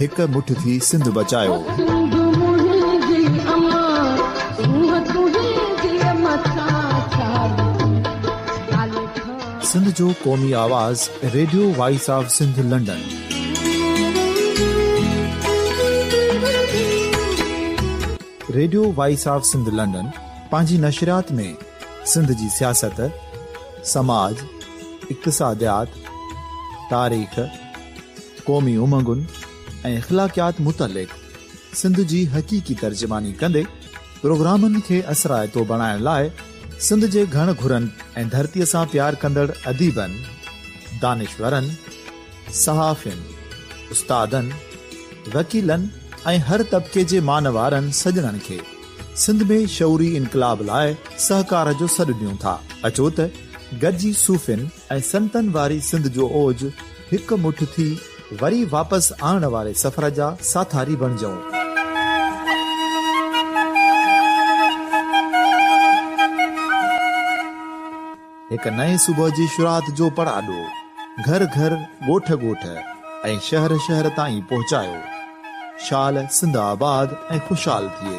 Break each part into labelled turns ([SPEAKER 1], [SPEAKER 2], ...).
[SPEAKER 1] هڪ مٺ ٿي سنڌ بچايوسنڌ جو قومي آواز radio voice of Sindh London radio voice of Sindh London پنهنجي نشريات ۾ سنڌ جي سياست سماج اقتصاديات تاريخ قومي امنگن ۽ اخلاقيات متعلق سنڌ جي حقيقي ترجماني ڪندي پروگرامن کي اثرائتو بڻائڻ لاء سنڌ جي گهڻ گهرن ۽ ڌرتي سان پيار ڪندڙ اديبن، دانشورن، صحافين، استادن، وڪيلن ۽ هر طبقي جي مان وارن سڄڻن کي سنڌ ۾ شعوري انقلاب لاء سهڪار جو سڏ ڏيون ٿا. اچو ته گڏجي صوفين ۽ سنتن واري سنڌ جو اوج هڪ مٺ ٿي وري واپس آڻڻ واري سفر جا ساٿاري بڻجئون. هڪ نئين صبح جي شروعات جو پڙاڏو گهر گهر، ڳوٺ ڳوٺ ۽ شهر شهر تائين پهچايو. شال سنڌ آباد ۽ خوشحال ٿئي.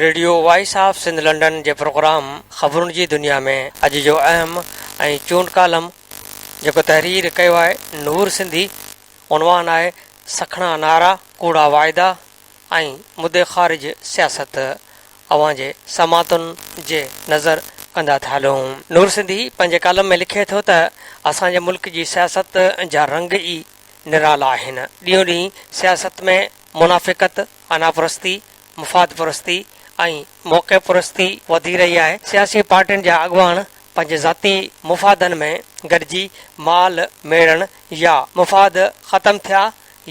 [SPEAKER 2] Radio voice of Sindh London جي پروگرام خبرن جي دنيا ۾ اڄ جو اهم ۽ چونڊ ڪالم جيڪو تحرير ڪيو آهي نور سنڌي عنوان آهي سکڻا نعرا ڪوڙا واعدا ۽ مدي خارج سياست اوهان جي سماعتن جي نظر ڪندا ٿا هلون نور سنڌي پنهنجي ڪالم ۾ لکي ٿو ته اسان جي ملڪ جي سياست جا رنگ ئي نرالا آهن ڏينهون ڏينهن سياست ۾ منافقت اناپرستي مفاد پرستي ۽ موقعي پرستي وڌي رهي آهي، سياسي پارٽين جا اڳواڻ پنهنجي ذاتي مفادن ۾ گڏجي مال ميڙڻ يا مفاد ختم ٿيا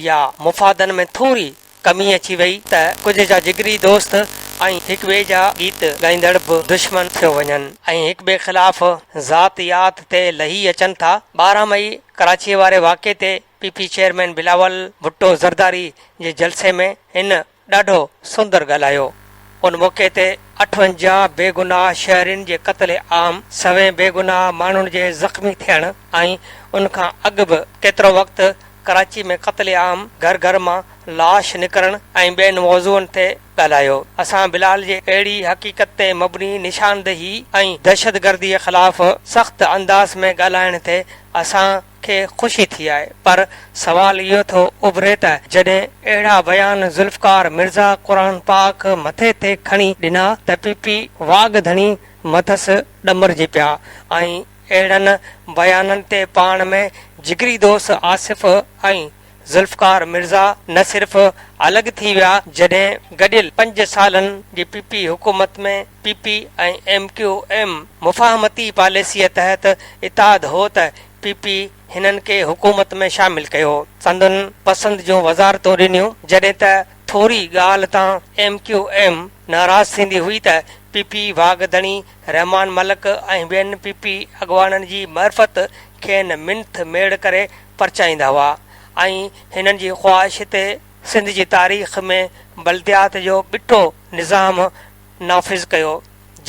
[SPEAKER 2] يا مفادن ۾ ٿوري ڪمي اچي وئي ته ڪجهه جا جگري دوست ۽ هڪ ٻئي جا گيت ڳائيندڙ به دشمن ٿيو وڃن ۽ هڪ ٻئي خلاف ذات يات تي لهي اچن ٿا، ٻارهن مئي ڪراچيء واري واقعي تي P P chairman Bilawal Bhutto Zardari جي جلسي ۾ هن ڏاڍو سندر ڳالهايو. ان موقعي تي اٺونجاهه بيگناهه شهرين جي قتل عام، سوين بيگناهه ماڻهن جي زخمي ٿيڻ ۽ ان کان اڳ به ڪيترو وقت ڪراچي ۾ قتل عام، گهر گهر مان لاش نڪرڻ ۽ ٻين موضوعن تي ڳالهايو. اسان بلال جي اهڙي حقيقت تي مبني نشاندهي ۽ دهشتگرديء خلاف سخت انداز ۾ ڳالهائڻ تي اسان، کي خوشي ٿي آهي پر سوال اهو ٿو اڀري ته جڏهن اهڙا بيان ذوالفقار مرزا قرآن پاڪ مٿي تي کڻي ڏنا ته پي پي واڳ ڌڻي مٿس ڏمرجي پيا ۽ اهڙن بيانن تي پاڻ ۾ جگري دوست آصف ۽ ذوالفقار مرزا نه صرف الڳ ٿي ويا جڏهن گڏيل پنج سالن جي پي پي حڪومت ۾ P P ۽ M Q M مفاهمتي پاليسيء تحت اتحاد هو ته پي پي هنن کي حڪومت ۾ شامل ڪيو، سندن پسند جون وزارتون ڏنيون، جڏهن ته ٿوري ڳالهه تان ايم ڪيو ايم ناراض ٿيندي هئي ته پي پي واڳ ڌڻي رحمان ملڪ ۽ ٻين پي پي اڳواڻن جي معرفت کين منٿ ميڙ ڪري پرچائيندا هئا ۽ هنن جي خواهش تي سنڌ جي تاريخ ۾ بلديات جو ٻٽو نظام نافذ ڪيو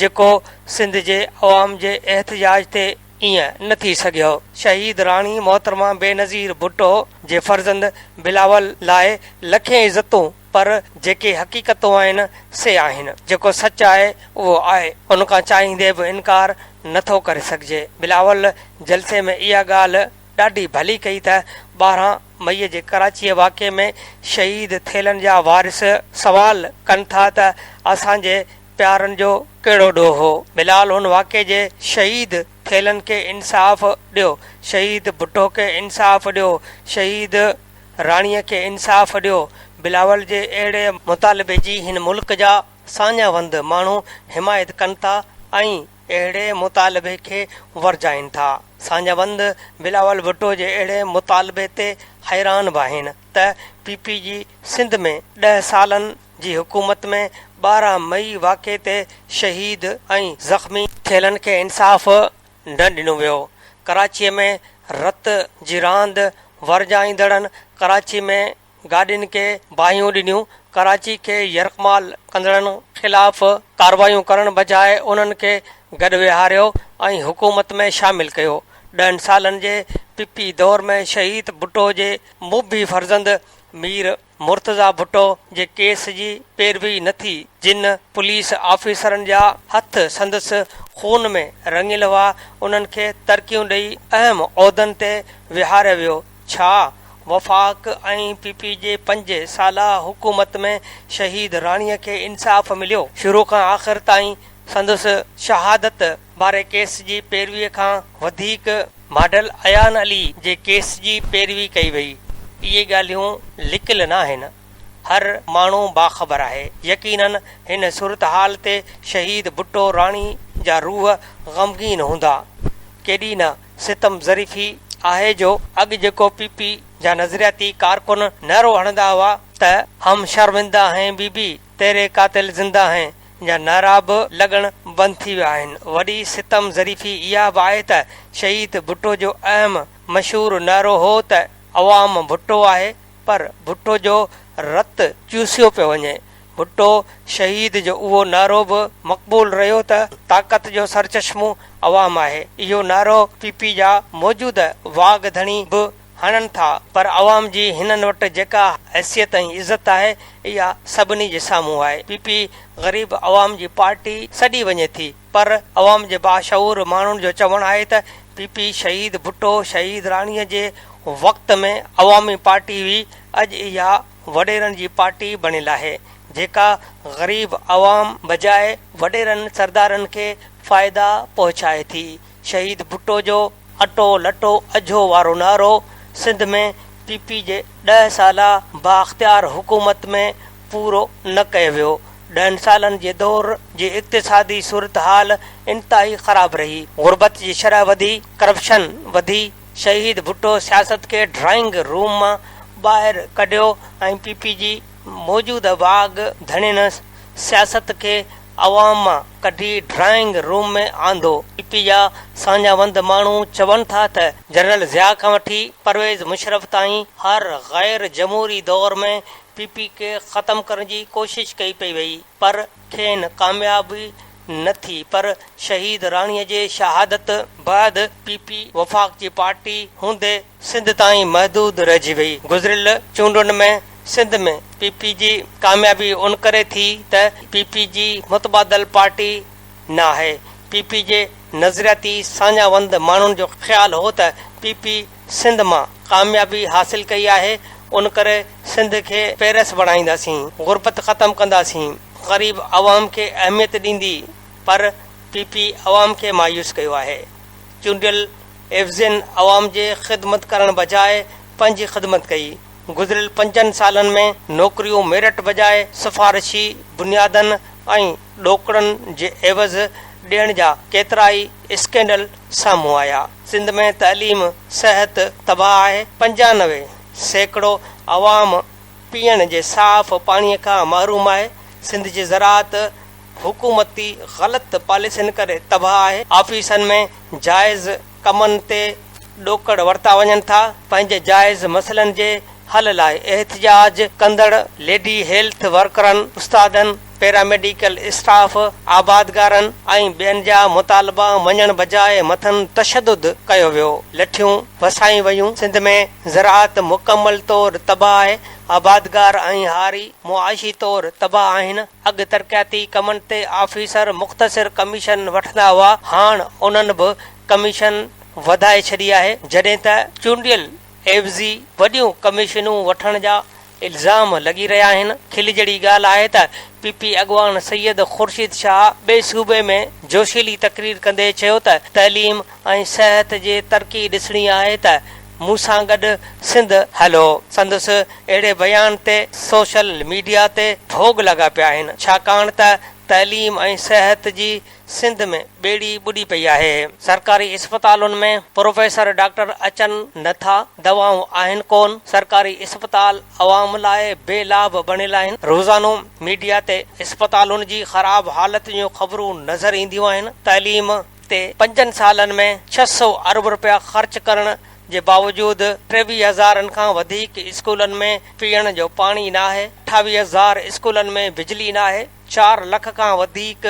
[SPEAKER 2] جيڪو سنڌ جي عوام جي احتجاج تي ايئن نه ٿي سگهيو. شهيد راڻي محترمه بينظير ڀٽو جي فرزند بلاول لاء لکين عزتون پر جيڪي حقيقتون آهن سي آهن جيڪو سچ آهي اهو آهي ان کان چاهيندي به انڪار نه ٿو ڪري سگهجي بلاول جلسي ۾ اها ڳالهه ڏاڍي ڀلي ڪئي ته ٻارهن مئي جي ڪراچيء واقعي ۾ شهيد ٿيلن جا وارث سوال ڪن ٿا ته اسان جي پيارن جو ڪهڙو ڏوهه هو؟ بلال هن واقعي جي شهيد ٿيلن کي انصاف ڏيو، شهيد ڀٽو کي انصاف ڏيو، شهيد راڻيء کي انصاف ڏيو، بلاول جي اهڙي مطالبي جي هن ملڪ جا ساڃاهه وند ماڻهو حمايت ڪن ٿا ۽ اهڙي مطالبي کي ورجائين ٿا. ساڃاهه بند بلاول ڀٽو جي اهڙي مطالبي تي حيران به آهن ته پي پي جي سنڌ ۾ ڏهه سالن جي حڪومت ۾ ٻارهن مئي واقعي تي شهيد ۽ زخمي ٿيلن کي انصاف نه ڏنو ويو، ڪراچي ۾ رت جي راند ورجائيندڙن ڪراچي ۾ گاڏين کي باهيون ڏنيون، ڪراچي کي يرغمال ڪندڙن خلاف ڪارروايون ڪرڻ بجاء انهن کي گڏ ويهاريو ۽ حڪومت ۾ شامل ڪيو. ڏهن سالن جي پي پي دور ۾ شهيد ڀٽو جي مبي فرزند مير مرتضيٰ ڀٽو جي ڪيس جي پيروي نه ٿي، جن پوليس آفيسرن جا هٿ سندس خون ۾ رڱيل هئا، انهن کي ترقيون ڏئي اهم عهدن تي ويهاريو ويو. ڇا وفاق ۽ پي پي جي پنج سالا حڪومت ۾ شهيد راڻي کي انصاف مليو؟ شروع کان آخر تائين سندس شهادت واري ڪيس جي پيروي کان وڌيڪ ماڊل ايان علي جي ڪيس جي پيروي ڪئي وئي. اهي ڳالهيون لڪيل ناهن. هر ماڻهو باخبر آهي. يقيناً هن صورتحال تي شهيد ڀٽو راڻي جا روح غمگين هوندا. ڪيڏي نه ستم ظريفي آهي جو اڳ جيڪو پي پي جا نظرياتي ڪارڪن نعرو هڻندا هئا ته هم شرمنده هين بي بي تيري قاتل زنده هين جا نعرا به لڳڻ بند ٿي ويا آهن وڏي ستم ظريفي اها به آهي ته شهيد ڀٽو جو اهم مشهور نعرو هو ته عوام ڀٽو آهي پر ڀٽو جو رت چوسيو پيو وڃي. ڀٽو شهيد جو اهو نعرو به مقبول رهيو ته طاقت جو سرچشمو عوام آهي. اهو نعرو پي پي جا موجوده واڳ ڌڻي به هڻن ٿا پر عوام جي هنن وٽ جيڪا حيثيت ۽ عزت آهي اها سڀني جي سامهون آهي. پي پي غريب عوام جي پارٽي سڏي وڃي ٿي. پر عوام جي باشعور ماڻهن جو چوڻ آهي ته پي پي شهيد ڀٽو شهيد راڻي جي وقت ۾ عوامي پارٽي هئي اڄ اها وڏيرن جي پارٽي بڻيل آهي جيڪا غريب عوام بجاء وڏيرن سردارن کي فائدا پهچائي ٿي شهيد ڀٽو جو اٽو لٽو اجهو وارو نعرو سنڌ ۾ پي پي جي ڏهه سالا بااختيار حڪومت ۾ پورو نه ڪيو ويو. ڏهن سالن جي دور جي اقتصادي صورتحال انتهائي خراب رهي، غربت جي شرح وڌي، ڪرپشن وڌي، شهيد ڀٽو سياست کي ڊرائنگ روم مان ٻاهر ڪڍيو ۽ پي پي جي موجوده واڳ ڌڻين سياست کي عوام مان ڪڍي ڊرائنگ روم ۾ آندو، پي پي جا ساڃاهوند ماڻهو چون ٿا ته جنرل ضياء کان وٺي پرويز مشرف تائين هر غير جمهوري دور ۾ پي پي کي ختم ڪرڻ جي ڪوشش ڪئي پئي وئي پر کين ڪاميابي نه ٿي پر شهيد راڻي جي شهادت بعد پي پي وفاق جي پارٽي هوندي سنڌ تائين محدود رهجي وئي. گذريل چونڊن ۾ سنڌ ۾ پي پي جي ڪاميابي ان ڪري ٿي ته پي پي جي متبادل پارٽي نه آهي. پي پي جي نظرياتي ساڃاهه وند ماڻهن جو خيال هو ته پي پي سنڌ مان ڪاميابي حاصل ڪئي آهي ان ڪري سنڌ کي پيرس بڻائينداسين، غربت ختم ڪنداسين، غريب عوام کي اهميت ڏيندي پر پي پي عوام کي مايوس ڪيو آهي. چونڊيل. ايفزين عوام جي خدمت ڪرڻ بجاء پنهنجي خدمت ڪئي. گذريل پنجن سالن ۾ نوڪريون ميرٽ بجاء سفارشي بنيادن ۽ ڏوڪڙن جي عيوض ڏيڻ جا ڪيترائي اسڪينڊل سامهون آيا. سنڌ ۾ تعليم، صحت تباهه آهي، پنجانوي سيڪڙو عوام پيئڻ جي صاف پاڻي کان محروم آهي، سنڌ جي زراعت، حڪومتي غلط پاليسين ڪري تباهه آهي، آفيسن ۾ جائز ڪمن تي ڏوڪڙ ورتا وڃن ٿا، پنهنجي جائز مسئلن جي حل لاء احتجاج ڪندڙ ليڊي هيلٿ ورڪرن، استادن، پيراميڊيڪل اسٽاف، آبادگارن ۽ ٻين جا مطالبا مڃڻ بجاء مٿن تشدد ڪيو ويو، لٺيون وسايون ويون، سنڌ ۾ زراعت مڪمل طور تباهه آهي، آبادگار ۽ هاري معاشي طور تباهه آهن. اڳ ترقياتي ڪمن تي آفيسر مختصر ڪميشن وٺندا هئا، هاڻ انهن به ڪميشن وڌائي ڇڏي آهي، جڏهن ته چونڊيل عيوضي وڏيون ڪميشنون وٺڻ جا الزام لڳي رهيا آهن، کل جهڙي ڳالهه آهي ته پي پي اڳواڻ سيد خورشيد شاهه ٻئي صوبي ۾ جوشيلي تقرير ڪندي چيو ته تعليم ۽ صحت جي ترقي ڏسڻي آهي ته مون سان گڏ سنڌ هلو سندس اهڙي بيان تي سوشل ميڊيا تي ڀوڳ لڳا پيا آهن ڇاڪاڻ ته تعليم ۽ صحت جي سنڌ ۾ ٻيڙي ٻڏي پئي آهي سرڪاري اسپتالن ۾ پروفيسر ڊاڪٽر اچن نه ٿا دوائون آهن ڪون سرڪاري اسپتال عوام لاء بي لاڀ بڻيل آهن روزانو ميڊيا تي اسپتالن جي خراب حالت جون خبرون نظر اينديون آهن تعليم تي پنجن سالن ۾ ڇهه سؤ ارب رپيا خرچ ڪرڻ جي باوجود ٽيويهه هزارن کان وڌيڪ اسڪولن ۾ پيئڻ جو پاڻي ناهي، اٺاويهه هزار اسڪولن ۾ بجلي ناهي، چار لک کان وڌيڪ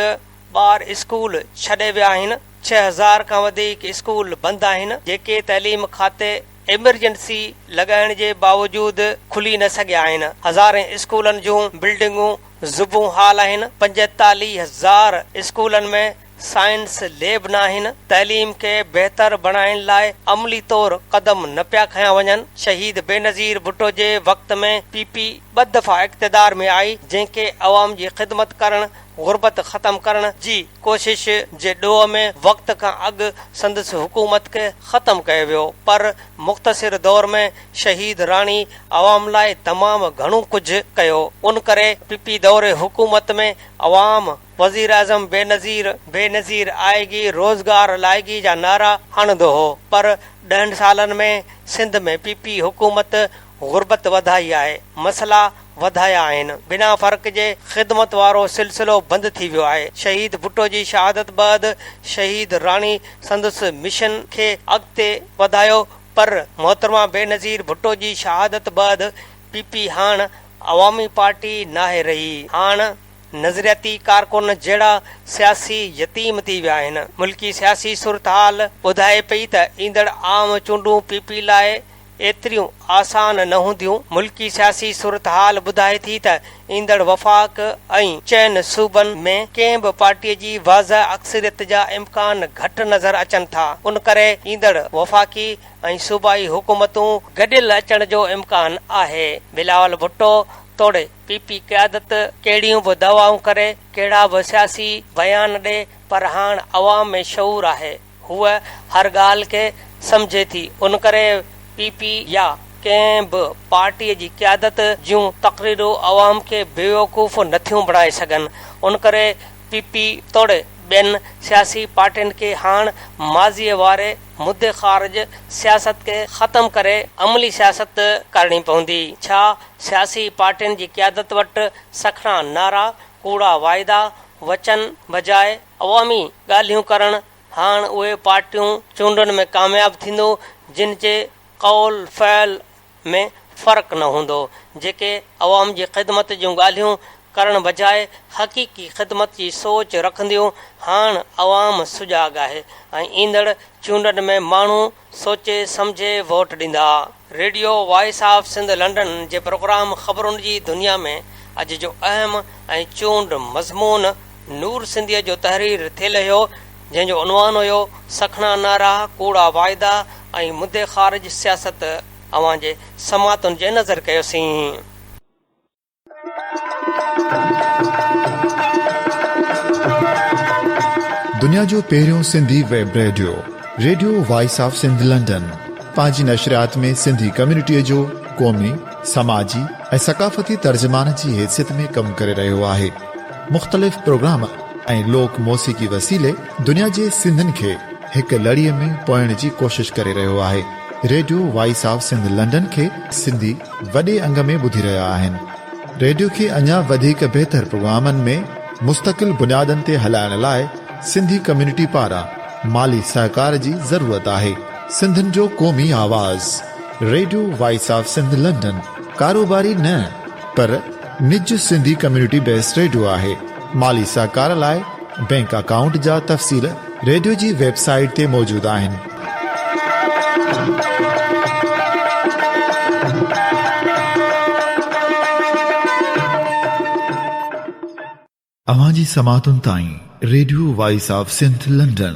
[SPEAKER 2] ٻار اسڪول ڇڏي ويا آهن، ڇهه هزار کان وڌيڪ اسڪول بند آهن، جيڪي تعليم کاتي ايمرجنسي لڳائڻ جي باوجود کلي نه سگهيا آهن، هزارين اسڪولن جون بلڊنگون زبون حال آهن، پنجيتاليهه هزار اسڪولن ۾ سائنس ليب ناهن، تعليم کي بهتر بڻائڻ لاء عملي طور قدم نه پيا کنيا وڃن، شهيد بينظير ڀٽو جي وقت ۾ پي پي ٻه دفعا اقتدار ۾ آئي جنهن کي عوام جي خدمت ڪرڻ، غربت ختم ڪرڻ جي ڪوشش جي ڏوهه ۾ وقت کان اڳ سندس حڪومت کي ختم ڪيو ويو پر مختصر دور ۾ شهيد راڻي عوام لاء تمام گهڻو ڪجهه ڪيو ان ڪري پي پي دور حڪومت ۾ عوام وزيراعظم بينظير، بينظير آئيگي، روزگار لائيگي جا نعرا هڻندو هو پر ڏهن سالن ۾ سنڌ ۾ پي پي حڪومت غربت وڌائي آهي، مسئلا وڌايا آهن، بنا فرق جي خدمت وارو سلسلو بند ٿي ويو آهي، شهيد ڀٽو جي شهادت بعد شهيد راڻي سندس مشن کي اڳتي وڌايو پر محترمه بينظير ڀٽو جي شهادت بعد پي پي هاڻ عوامي پارٽي ناهي رهي، هاڻ نظرياتي ڪارڪن جهڙا سياسي يتيم ٿي ويا آهن، ملڪي سياسي صورتحال ٻڌائي پئي ته ايندڙ عام چونڊون پي پي لاء ايتريون آسان نه هونديون، ملڪي سياسي صورتحال ٻڌائي ٿي ته ايندڙ وفاق ۽ چئن صوبن ۾ ڪنهن به پارٽي جي واضح اڪثريت جا امڪان گهٽ نظر اچن ٿا، ان ڪري ايندڙ وفاقي ۽ صوبائي حڪومتون گڏيل اچڻ جو امڪان آهي، بلاول ڀٽو توڙي. پي پي قيادت ڪهڙيون به دعوائون ڪري، ڪهڙا به سياسي بيان ڏي پر هاڻ عوام ۾ شعور آهي، هوء هر ڳالهه کي سمجهي ٿي، ان ڪري پي پي يا ڪنهن به پارٽيء جي قيادت جون تقريرون عوام کي بيوقوف نٿيون بڻائي سگهن، ان ڪري پي پي توڙي ٻين سياسي پارٽين کي هاڻ ماضيء واري مدي خارج سياست کي ختم ڪري عملي سياست ڪرڻي پوندي، ڇا سياسي پارٽين جي قيادت وٽ سکڻا نعرا، ڪوڙا واعدا، وچن بجاء عوامي ڳالهيون ڪرڻ، هاڻ اهي پارٽيون چونڊن ۾ ڪامياب ٿيندو جن جي قول فعل ۾ فرق نه هوندو، جيڪي عوام جي خدمت جون ڳالهيون ڪرڻ بجاء حقيقي خدمت جي سوچ رکنديون، هاڻ عوام سجاڳ آهي ۽ ايندڙ چونڊن ۾ ماڻهو سوچي سمجهي ووٽ ڏيندا. Radio voice of Sindh London جي پروگرام خبرن جي دنيا ۾ اڄ جو اهم ۽ چونڊ مضمون نور سنڌيء جو تحرير ٿي لهيو، جنهن جو عنوان هيو سکڻا نعرا، ڪوڙا واعدا ۽ مدي خارج سياست اوهان جي سماعتن جي نظر ڪيوسين.
[SPEAKER 1] دنيا جو پهريون Sindhi web radio radio voice of Sindh London پنهنجي نشريات ۾ سنڌي ڪميونٽي جو قومي سماجي ۽ ثقافتي ترجمان جي حيثيت ۾ ڪم ڪري رهيو آهي مختلف پروگرام ۽ لوڪ موسيقي وسيلي دنيا جي سنڌين کي هڪ لڙي ۾ پوئڻ جي ڪوشش ڪري رهيو آهي radio voice of Sindh London کي سنڌي وڏي انگ ۾ ٻڌي رهيا آهن ريڊيو کي اڃا وڌيڪ بهتر پروگرامن ۾ مستقل بنيادن تي هلائڻ لاء سنڌي ڪميونٽي پاران مالي سهڪار جي ضرورت آهي سنڌين جو قومي آواز radio voice of Sindh London ڪاروباري نه پر نج سنڌي ڪميونٽي بيس ريڊيو آهي مالي سهڪار لاء بينڪ اڪائونٽ جا تفصيل ريڊيو جي ويب سائيٽ تي موجود آهن اوهان جي سماعتن تائين radio voice of Sindh London